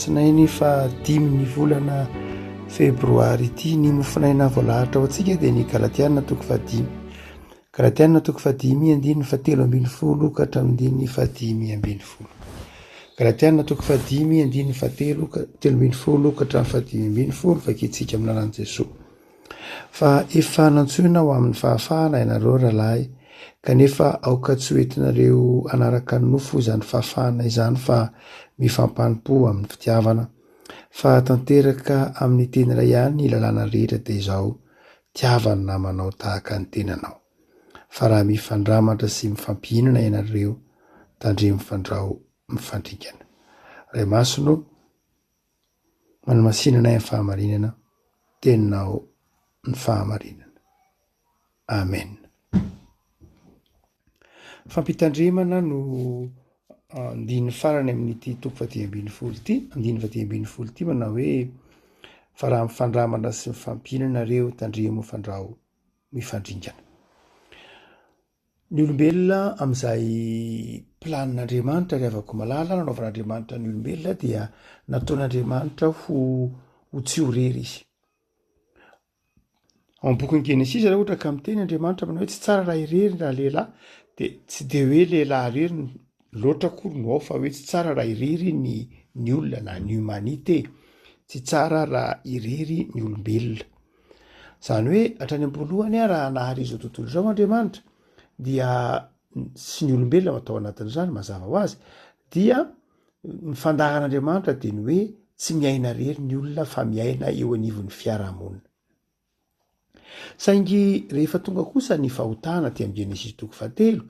Alatsinainy faha dimy ny volana febroary ity. Ny mofonaina voalahatra ho antsika dia ny Galatiana toko faha dimy. Galatiana toko faha dimy andininy faha telo ambin'ny folo ka hatramin'ny andininy faha dimy ambin'ny folo. Galatiana toko faha dimy andininy faha telo ka telo ambin'ny folo ka hatramin'ny faha dimy ambin'ny folo vakintsika amin'ny lalan'i Jesoa. Fa efa nantsoina ho amin'ny fahafahana ianareo rahalahy, kanefa aoka tsy ho entinareo hanaraka ny nofo izany fahafahana izany fa mifampanopo amin'ny fitiavana. Fa tanteraka amin'ny teny iray ihany ny lalàna rehetra dia izao, tiava ny namanao tahaka ny tenanao. Fa raha mifandramatra sy mifampihinana ianareo, tandremo fandrao mifandringana. Ray Masina o! Manamasinana ahy ny fahamarinana, teninao ny fahamarinana. Amen. Fampitandremana no andininy farany amin'ity toko faha dimy ambin'ny folo ity, andininy faha dimy ambin'ny folo ity manao hoe fa raha mifandramana sy mifampihinana reo tandremo fandrao mifandringana. Ny olombelona amin'izay planin'Andriamanitra, ry havako malala, nanaovan'Andriamanitra ny olombelona dia nataon'Andriamanitra ho ho tsy ho rery izy. Ao amin'ny bokin'ny Genesisa raha ohatra ka miteny Andriamanitra manao hoe tsy tsara raha irery ny ralehilahy dia tsy dia hoe lehilahy irery no loatra akory no ao fa hoe tsy tsara raha irery ny ny olona na ny humanité, tsy tsara raha irery ny olombelona. Izany hoe hatrany am-poalohany ary raha nahary izao tontolo izao Andriamanitra dia sy ny olombelona atao anatin'izany mazava ho azy dia ny fandaharan'Andriamanitra dia ny hoe tsy miaina rery ny olona fa miaina eo anivon'ny fiarahamonina. Saingy rehefa tonga kosa ny fahotana aty amin'ny Genesisy toko fahatelo,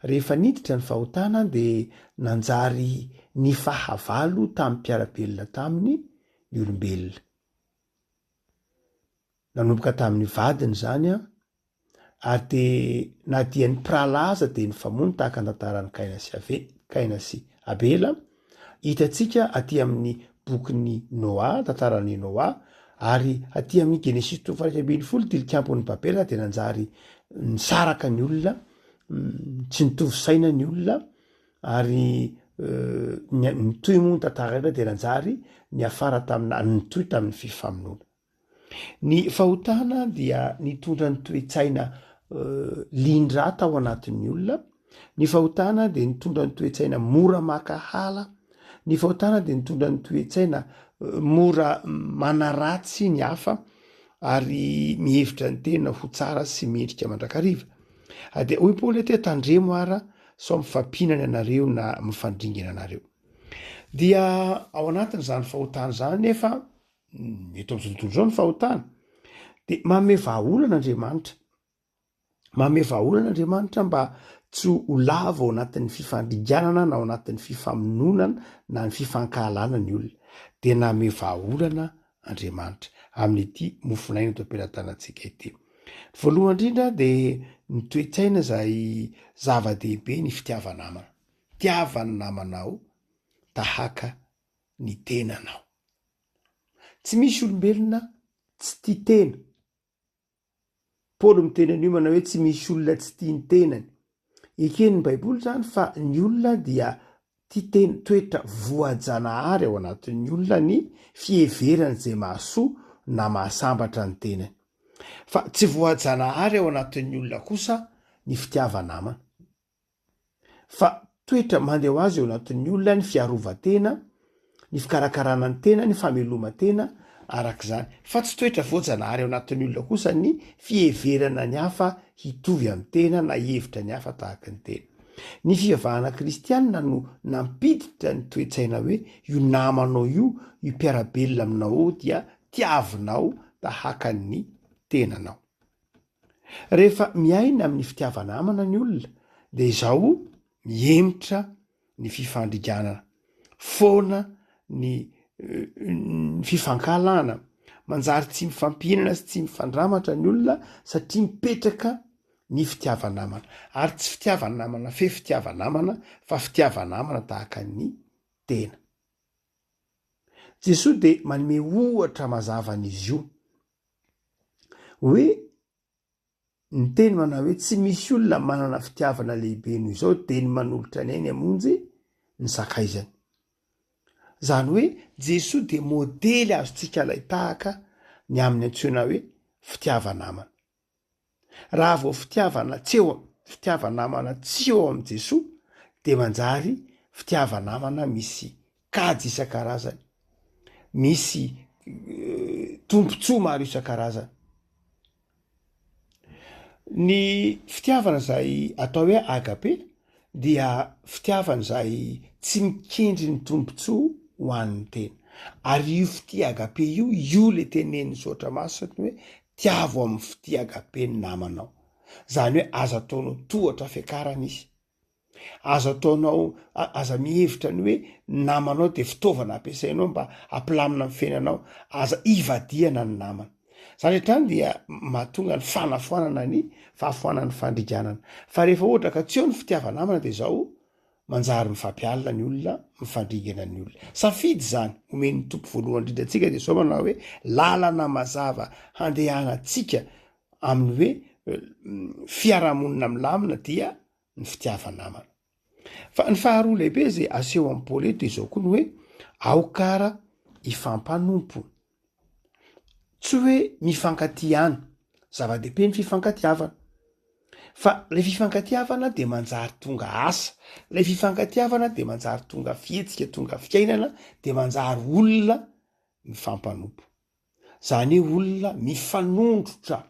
rehefa niditra ny fahotana dia nanjary ny fahavalo tamin'ny mpiara-belona taminy ny olombelona. Nanomboka tamin'ny vadiny izany ary dia na dia ny mpirahalahy aza dia nifamono tahaka ny tantaran'i Kaina sy Ave- Kaina sy Abela hitantsika aty amin'ny bokin'i Noa, tantaran'i Noa ary aty amin'ny Genesisy toko fahatraika ambin'ny folo tilikampon'i Babela dia nanjary nisaraka ny olona, tsy nitovy saina ny olona. Ary nitohy moa ny tantara indray dia nanjary niafara tamin'ny na nitohy tamin'ny fifamonoana. Ny fahotana dia nitondra ny toe-tsaina lian-drà tao anatin'ny olona, ny fahotana dia nitondra ny toe-tsaina mora maka hala, ny fahotana dia nitondra ny toe-tsaina mora manaratsy ny hafa ary mihevitra ny tena ho tsara sy mendrika mandrakariva. Dia hoy Paoly aty, tandremo ara. sao mifampihinana ianareo na mifandringana ianareo. Dia ao anatin'izany fahotana izany nefa mm, eto amin'izao tontolo izao ny fahotana, dia manome vahaolana Andriamanitra. Manome vahaolana Andriamanitra mba tsy ho lavo ao anatin'ny fifandringanana na ao anatin'ny fifamononana na ny fifankahalana ny olona. Dia nanome vahaolana Andriamanitra amin'ity mofon'aina eto am-pelatanantsika ity. Voalohany indrindra dia ny toe-tsaina izay zava-dehibe ny fitiava-namana. Tiava ny namanao tahaka ny tenanao. Tsy misy olombelona tsy tia tena. Paoly miteny an'io manao hoe tsy misy olona tsy tia ny tenany. Eken'ny Baiboly izany fa ny olona dia tia tena, toetra voajanahary ao anatin'ny olona ny fiheverany izay mahasoa na mahasambatra ny tenany. Fa tsy voajanahary ao anatin'ny olona kosa ny fitiava-namana. fa toetra mande ho azy eo anatin'ny olona ny fiarovan-tena, ny fikarakarana ny tena, ny fameloman-tena araka izany, fa tsy toetra voajanahary ao anatin'ny olona kosa ny fiheverana ny hafa hitovy amin'ny tena na hihevitra ny hafa tahaka ny tena. Ny fivavahana kristianina no nampiditra ny toe-tsaina hoe io namanao io, io mpiara-belona aminao io dia tiavinao tahaka ny tenanao. Rehefa miaina amin'ny fitiava-namana ny olona dia izao mihemotra ny fifandriganana, foana ny fifankahalana, manjary tsy mifampihinana sy tsy mifandramatra ny olona satria mipetraka ny fitiava-namana. Ary tsy fitiava-namana fefy fitiava-namana fa fitiava-namana tahaka ny tena. Jesoa dia manome ohatra mazava an'izy io. hoe ny teny manao hoe tsy misy olona manana fitiavana lehibe noho izao dia ny manolotra ny ainy hamonjy ny sakaizany. Izany hoe Jesoa dia modely azontsika alain-tahaka ny amin'ny antsoina hoe fitiava-namana. Raha vao fitiavana tsy eo fitiava-namana tsy eo amin'i Jesoa dia manjary fitiava-namana misy kajy isan-karazany, misy tombontsoa maro isan-karazany. Ny fitiavana izay atao hoe agape dia fitiavana izay tsy mikendry ny tombontsoa ho an'ny tena. Ary io fitia agape io, io le tenenin'ny Soratra Masina hoe tiavo amin'ny fitia agape ny namanao. Izany hoe aza ataonao tohatra fiakarana izy. Aza ataonao, aza mihevitra ny hoe namanao dia fitaovana ampiasainao mba hampilamina ny fiainanao. Aza ivadihana ny namana. Izany hatrany dia mahatonga ny fanafoanana ny fahafoanan'ny fandriganana. Fa rehefa ohatra ka tsy eo ny fitiava-namana dia izao manjary mifampialina ny olona, mifandringana ny olona. Safidy izany omen'ny Tompo voalohany indrindra antsika dia izao manao hoe lalana mazava handehanantsika amin'ny hoe fiarahamonina milamina dia ny fitiava-namana. Fa ny faharoa lehibe izay aseho amin'i Paoly eto dia izao koa ny hoe aoka ara hifampanompo. Tsy hoe mifankatia ihany, zava-dehibe ny fifankatiavana fa ilay fifankatiavana dia manjary tonga asa, ilay fifankatiavana dia manjary tonga fihetsika, tonga fiainana dia manjary olona mifampanompo. zany hoe olona mifanondrotra,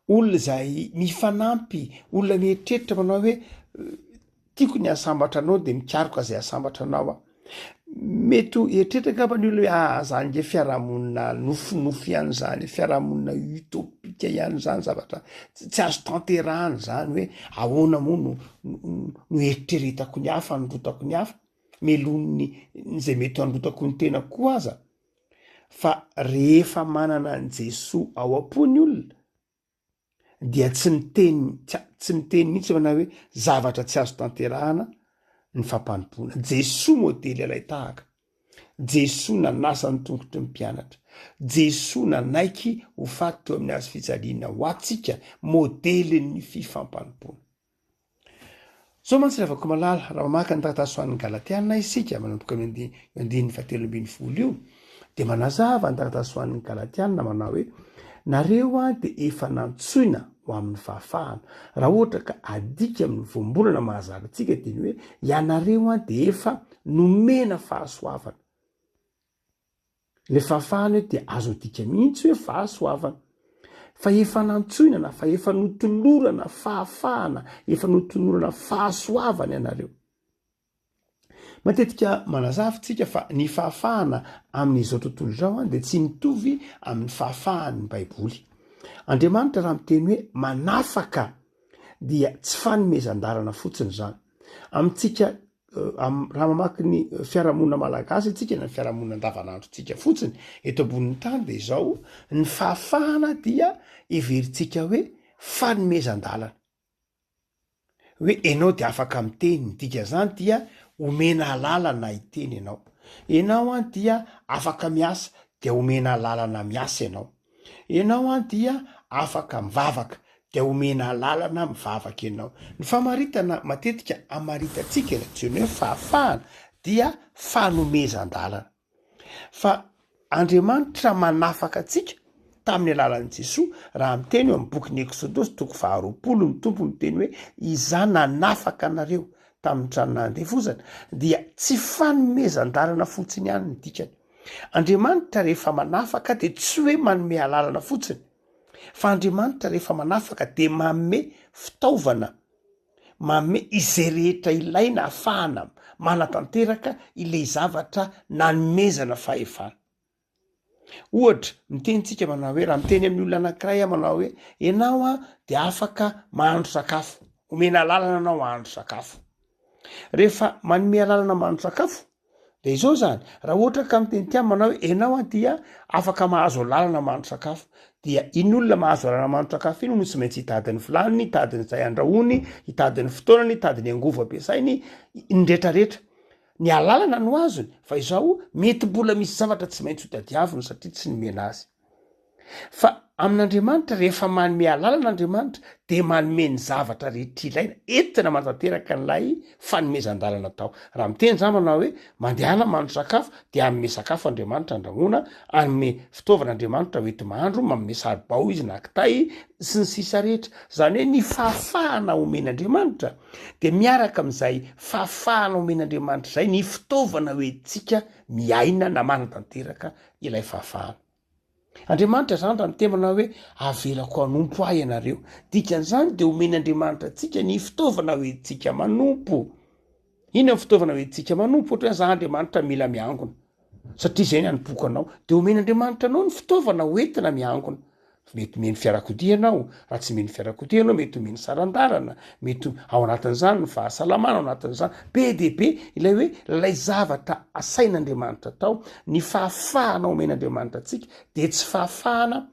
olona izay mifanampy, olona mieritreritra manao hoe tiako ny asambatra anao de mikaroka izay asambatra anao aho, mety ho eritreritra angamba ny olona hoe ah zany nge fiarahamonina nofinofy ihany zany, fiarahamonina utopika ihany zany zavatra tsy azo tanterahana zany hoe ahoana moa no no eritreretako ny hafa, anondrotako ny hafa, melohiny ny zay mety anondrotako ny tenako koa aza. fa rehefa manana an'i Jesoa ao am-po ny olona dia tsy miteny tsy miteny mihitsy manao hoe zavatra tsy azo tanterahana ny fampanompoana. Jesoa modely alay tahaka. Jesoa nanasa ny tongotry ny mpianatra. Jesoa nanaiky ho faty teo amin'ny hazo fijaliana ho antsika modelin'ny fifampanompoana. Zao mantsy ry havako malala, raha mamaky ny taratasy ho an'ny Galatiana isika, manomboka io andininy fahatelo ambin'ny folo io, dia manazava ny taratasy ho an'ny Galatiana manao hoe nareo a dia efa nantsoina ho amin'ny fahafahana. Raha ohatra ka adika amin'ny voambolana mahazaka antsika dia ny hoe ianareo a dia efa nomena fahasoavana. Ilay fahafahana eto dia azo adika mihitsy hoe fahasoavana. Fa efa nantsoina na fa efa notolorana fahafahana, efa notolorana fahasoavana ianareo. Matetika manazava isika fa ny fahafahana amin'izao tontolo izao dia tsy mitovy amin'ny fahafahan'ny Baiboly. Andriamanitra raha miteny hoe manafaka dia tsy fanomezan-dalana fotsiny izany. Amintsika Raha mamaky ny fiarahamonina malagasy antsika na ny fiarahamonina andavanandrontsika fotsiny eto ambonin'ny tany dia izao ny fahafahana dia heverintsika hoe fanomezan-dalana hoe ianao dia afaka miteny ny dikan'izany dia omena alalana hiteny ianao ianao an dia afaka miasa dia omena alalana miasa ianao Enao an dia afaka mivavaka dia omena alalana mivavaka enao. Ny famaritana matetika amaritantsika izay antsoina hoe fahafahana dia fanomezan-dalana. Fa Andriamanitra manafaka antsika tamin'ny alalan'i Jesoa raha miteny eo amin'ny bokin'ny Eksodosy toko faharoapolo ny Tompo miteny hoe Izaho nanafaka anareo tamin'ny tranon'andevozana dia tsy fanomezan-dalana fotsiny ihany ny dikany. Andriamanitra rehefa manafaka dia tsy hoe manome alalana fotsiny fa Andriamanitra rehefa manafaka dia manome fitaovana, manome izay rehetra ilaina ahafahana manatanteraka ilay zavatra nanomezana fahefana. Ohatra, miteny tsika manao hoe raha miteny amin'ny olona anankiray aho manao hoe ianao an dia afaka mahandro sakafo, omena alalana anao hahandro sakafo. Rehefa manome alalana mahandro sakafo De izao zany, raha ohatra ka miteny ty amana hoe enao an dia afaka mahazo alalana mahandro sakafo, dia iny olona mahazo alalana mahandro sakafo iny no tsy maintsy hitady ny vilany, hitady ny zay andrahoiny, hitady ny fotoanany, hitady ny angovo ampiasainy, ny retraretra. Ny alalana no azony fa izao mety mbola misy zavatra tsy maintsy hotadiaviny satria tsy nomena azy. Fa amin'Andriamanitra, rehefa manome alalana Andriamanitra, dia manome ny zavatra rehetra ilaina entina manatanteraka an'ilay fanomezan-dalana atao. Raha miteny izaho manao hoe, mandehana mahandro sakafo, dia hanome sakafo Andriamanitra handrahoana, hanome fitaovana Andriamanitra hoenti-mahandro, manome saribao Izy na kitay, sy ny sisa rehetra. Izany hoe ny fahafahana omen'Andriamanitra dia miaraka amin'izay fahafahana omen'Andriamanitra izay ny fitaovana hoentintsika miaina na manatanteraka ilay fahavahana. Andriamanitra izany raha miteny manao hoe avelako hanompo ahy ianareo. Dikan'izany dia omeny Andriamanitra antsika ny fitaovana ho entintsika manompo. Inona ny fitaovana ho entintsika manompo? Ohatra hoe za Andriamanitra mila miangona satria izay ny anompoako anao dia omeny Andriamanitra anao ny fitaovana ho entina miangona. Mety omeny fiarakodia ianao, raha tsy omeny fiarakodia ianao, mety omeny saran-dalana, mety ao anatin'izany ny fahasalamana, ao anatin'izany be dia be ilay hoe ilay zavatra asain'Andriamanitra atao, ny fahafahana omen'Andriamanitra antsika dia tsy fahafahana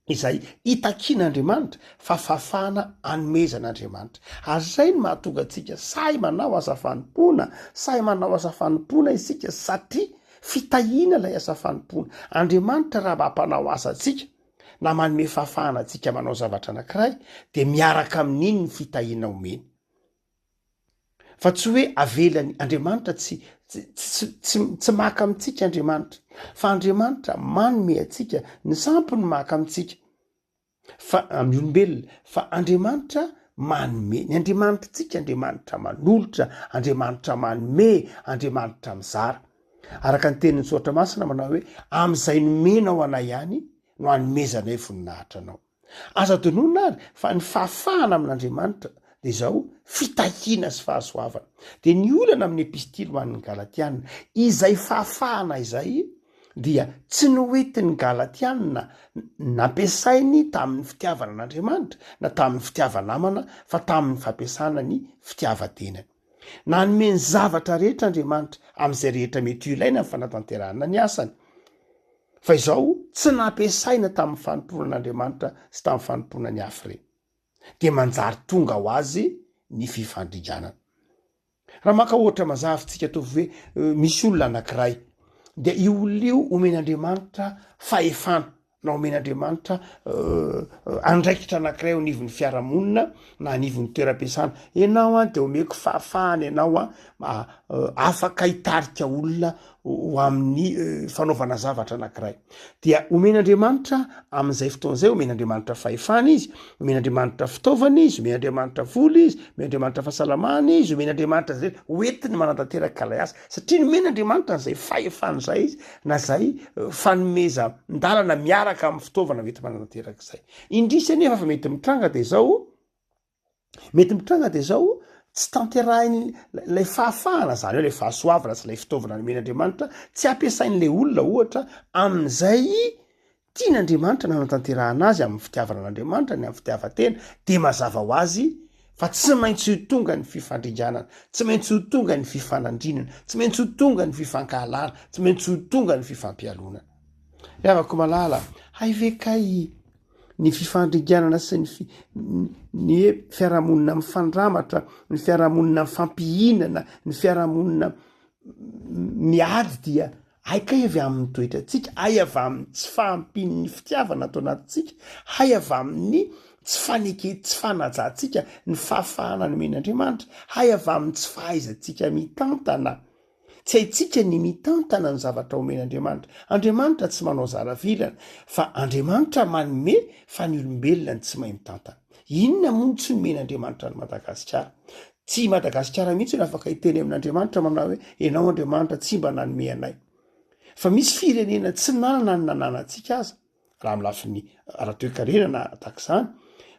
izay itakian'Andriamanitra fa fahafahana anomezan'Andriamanitra. Ary izay no mahatonga antsika sahy manao asa fanompoana, sahy manao asa fanompoana isika satria Fitahiana ilay asa fanompoana. Andriamanitra raha mba mpanao asa antsika na manome fahafahana antsika manao zavatra anankiray dia miaraka amin'iny ny fitahiana omeny. Fa tsy hoe avelany Andriamanitra tsy tsy maka amintsika Andriamanitra fa Andriamanitra manome antsika ny sampy ny maka amintsika. Fa amin'ny olombelona, fa Andriamanitra manome. Ny Andriamanitritsika, Andriamanitra manolotra, Andriamanitra manome, Andriamanitra mizara. Araka ny tenin'ny Soratra Masina manao hoe, amin'izay nomenao anay ihany no hanomezanay voninahitra anao. Azo adinoina ary fa ny fahafahana amin'Andriamanitra dia izao, fitahiana sy fahasoavana. Dia ny olana amin'ny epistily ho an'ny Galatiana, izay fahafahana izay dia tsy noentin'ny Galatiana nampiasainy tamin'ny fitiavana an'Andriamanitra na tamin'ny fitiava-namana fa tamin'ny fampiasana ny fitiavan-tenany. Nanome ny zavatra rehetra Andriamanitra amin'izay rehetra mety ho ilaina ny fanatanterahana ny asany, fa izao tsy nampiasaina tamin'ny fanompoanan'Andriamanitra sy tamin'ny fanompoana ny hafa ireny, dia manjary tonga ho azy ny fifandringanana. Raha maka ohatra mazava tsika ataovy hoe misy olona anankiray dia io olona io omen'Andriamanitra fahefana na omen'Andriamanitra andraikitra anankiray eo anivon'ny fiarahamonina na anivon'ny toeram-piasana. Ianao an dia omeko fahafahana ianao an afaka hitarika olona ho amin'ny fanaovana zavatra anankiray dia omen'andriamanitra amin'izay fotoana izay omen'andriamanitra fahefana izy omen'andriamanitra fitaovana izy omen'andriamanitra vola izy omen'andriamanitra fahasalamana izy omen'andriamanitra zay hoentiny manantanteraka ilay asa satria nomen'andriamanitra an'izay fahefana izay izy na zay fanomeza ndalana miaraka amin'ny fitaovana vety manantanteraka izay indrisy anefa fa mety mitranga dia izao mety mitranga dia zao tsy tanterahiny lay fahafahana zany hoe lay fahasoavana sy lay fitaovana nomen'andriamanitra tsy ampiasain'la olona ohatra amin'izay tian' andriamanitra nanatanterahana azy amin'ny fitiavana an'andriamanitra ny amin'ny fitiavantena dia mazava ho azy fa tsy maintsy ho tonga ny fifandringanana tsy maintsy ho tonga ny fifanandrinana tsy maintsy ho tonga ny fifankahalana tsy maintsy ho tonga ny fifampialonana ravako malala haivekay ny fifandringanana sy ny ny hoe fiarahamonina mifandramatra, ny fiarahamonina mifampihinana, ny fiarahamonina miady dia hay kay avy amin'ny toetrantsika, hay avy amin'ny tsy fahampian'ny fitiavana ato anatintsika, hay avy amin'ny tsy faneke tsy fanajantsika ny fahafahana nomen'Andriamanitra, hay avy amin'ny tsy fahaizantsika mitantana. Tsy haintsika ny mitantana ny zavatra omen'Andriamanitra. Andriamanitra tsy manao zara vilana, fa Andriamanitra manome fa ny olombelona no tsy mahay mitantana. Inona moa no tsy nomen'Andriamanitra an'i Madagasikara? Tsy i Madagasikara mihitsy no afaka hiteny amin'Andriamanitra manao hoe ianao Andriamanitra tsy mba nanome anay. Fa misy firenena tsy nanana ny nananantsika aza. raha amin'ny lafiny ara-toekarena na tahaka izany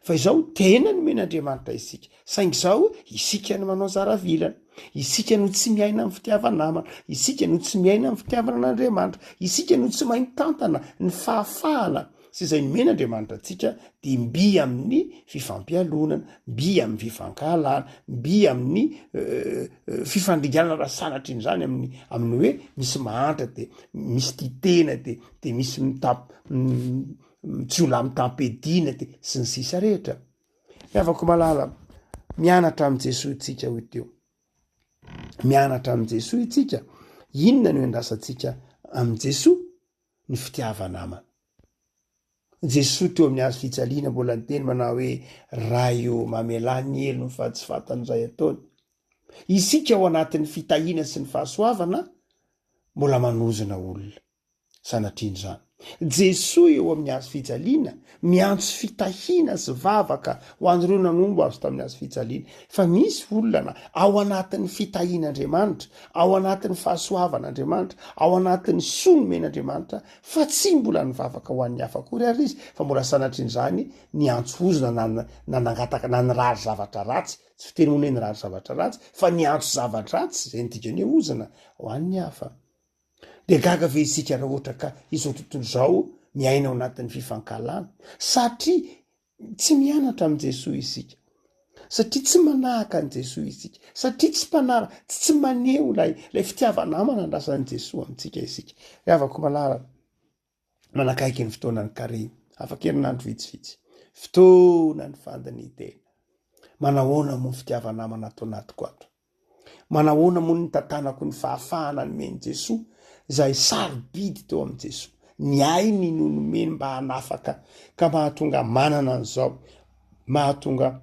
fa izao tena nomen'Andriamanitra isika saingy izao isika no manao zaravilana isika no tsy miaina amin'ny fitiava-namana isika no tsy miaina amin'ny fitiavana an'Andriamanitra isika no tsy maintantana ny fahafahana sy izay nomena Andriamanitra antsika dia mby amin'ny fifampialonana mby amin'ny fifankahalana mby amin'ny euh, euh, fifandringanana raha sanatrin'izany amin'ny amin'ny hoe misy mahantra dia misy tia tena dia de misy mitam- jiolahy mitam-piadiana de sy ny sisa rehetra ny havako malala mianatra amin'i Jesoa itsika ho teo mianatra amin'i Jesoa itsika inona no endrasantsika amin'i Jesoa ny fitiava-namana Jesoa teo amin'ny hazo fijaliana mbola niteny manao hoe ray o mamelà ny helony fa tsy fantany izay ataony isika ao anatin'ny fitahiana sy ny fahasoavana mbola manozona olona sanatrian'izany. Jesoa eo amin'ny hazo fijaliana, miantso fitahiana sy vavaka ho an'ireo nanombo Azy tamin'ny hazo fijaliana. Fa misy olona ao anatin'ny fitahian'Andriamanitra, ao anatin'ny fahasoavan'Andriamanitra, ao anatin'ny soa nomen'Andriamanitra, fa tsy mbola nivavaka ho an'ny hafa akory ary izy, fa mbola sanatrian'izany niantso ozona na na nangataka na nirary zavatra ratsy, tsy fiteny hono hoe nirary zavatra ratsy, fa niantso zava-dratsy, izay ny dikan'ny hoe ozona, ho an'ny hafa. Dia gaga ve isika raha ohatra ka izao tontolo izao miaina ao anatin'ny fifankahalana satria tsy mianatra amin'i Jesoa isika, satria tsy manahaka an'i Jesoa isika, satria tsy mpanara, tsy tsy maneho ilay ilay fitiava-namana andrasan'i Jesoa amintsika isika. Ry havako malala, manakaiky ny fotoanan'ny kary afakerinandro vitsivitsy. Fotoana ny fandin'ny tena. Manahoana moa ny fitiava-namana ato anatiko ato? Manahoana moa ny tantanako ny fahafahana nomen'i Jesoa, izay sarobidy teo amin'i Jesoa? Ny ainy no nomeny mba hanafaka ka mahatonga manana an'izao, mahatonga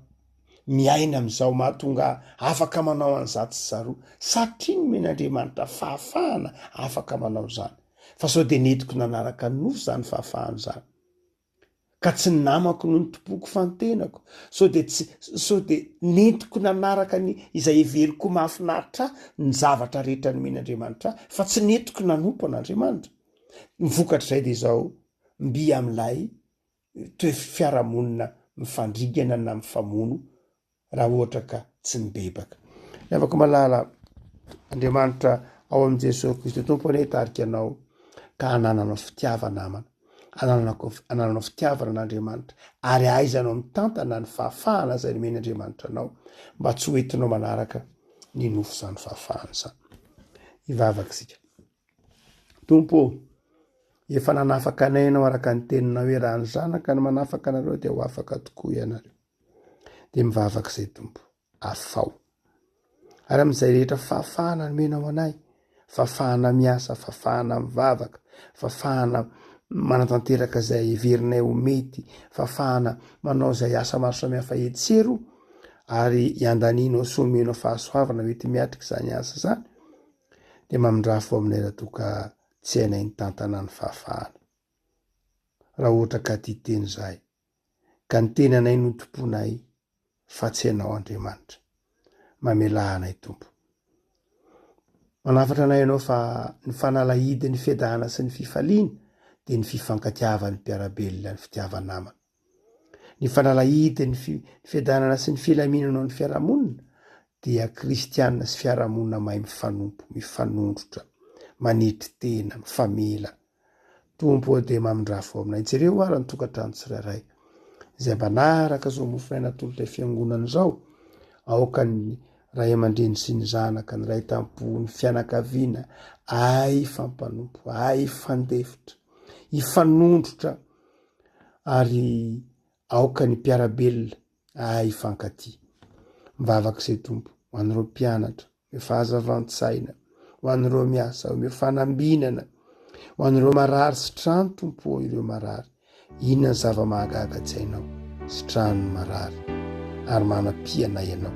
miaina amin'izao mahatonga ahy afaka manao an'izatsy sy zaroa satria nomen'Andriamanitra fahafahana afaka manao izany fa sao dia nentiko nanaraka ny nofo izany fahafahana izany ka tsy ny namako no nitompoko fa ny tenako sao dia tsy sao dia nentiko nanaraka ny izay heveriko mahafinaritra ahy ny zavatra rehetra nomen'Andriamanitra ahy fa tsy nentiko nanompo an'Andriamanitra ny vokatr'izay dia izao mby amin'ilay toe-fiarahamonina mifandringana na mifamono raha ohatra ka tsy mibebaka. Ry havako malala, Andriamanitra ao amin'i Jesoa Kristy Tompo anie hitarika anao ka hanananao fitiavana namana, hanananao fitiavana an'Andriamanitra ary ahaizanao mitantana ny fahafahana izay nomen' Andriamanitra anao mba tsy ho entinao manaraka ny nofo izany fahafahana izany. Hivavaka isika. Tompo ô, efa nanafaka anay ianao araka ny teninao hoe raha ny zanaka no manafaka anareo dia ho afaka tokoa ianareo. Dia mivavaka izay Tompo, afaho. Ary amin'izay rehetra fafahana nomenao anay, fafahana miasa, fafahana mivavaka, fafahana manatanteraka izay heverinay ho mety, fafahana manao izay asa maro samihafa hetsero ary iandanianao sy omenao fahasoavana mety miatrika izany asa izany. dia mamindrà fo aminay raha toa ka tsy hainay nitantana ny fahafahana. Raha ohatra ka tia teny izahay, ka ny tenanay no tomponay fa tsy ianao Andriamanitra. Mamelà anay Tompo. Manafatra anay ianao fa ny fanalahidin'ny fiadanana sy ny fifaliana dia ny fifankatiavan'ny mpiara-belona, ny fitiava-namana. Ny fanalahidy ny fiadanana sy ny filaminana ao amin'ny fiarahamonina dia kristiana sy fiarahamonina mahay mifanompo, mifanondrotra, manetry tena, mifamela. Tompo ao dia mamindrafo aminay. Jereo ary ny tokantrano tsirairay izay mba naraka izao mofonaina atolotra fiangonana izao. Aoka ny ray aman-dreny sy ny zanaka, ny ray tampo, ny fianakaviana, ay fampanompo, ay fandefitra, ifanondrotra, ary aoka ny mpiara-belona ahay hifankatia. Mivavaka izay Tompo, ho an'ireo mpianatra, omeo fahazavan-tsaina, ho an'ireo miasa, omeo fanambinana, ho an'ireo marary sy trano Tompo ô, ireo marary. Inona ny zava-mahagaga tsy hainao sy trano marary ary manam-piana ianao.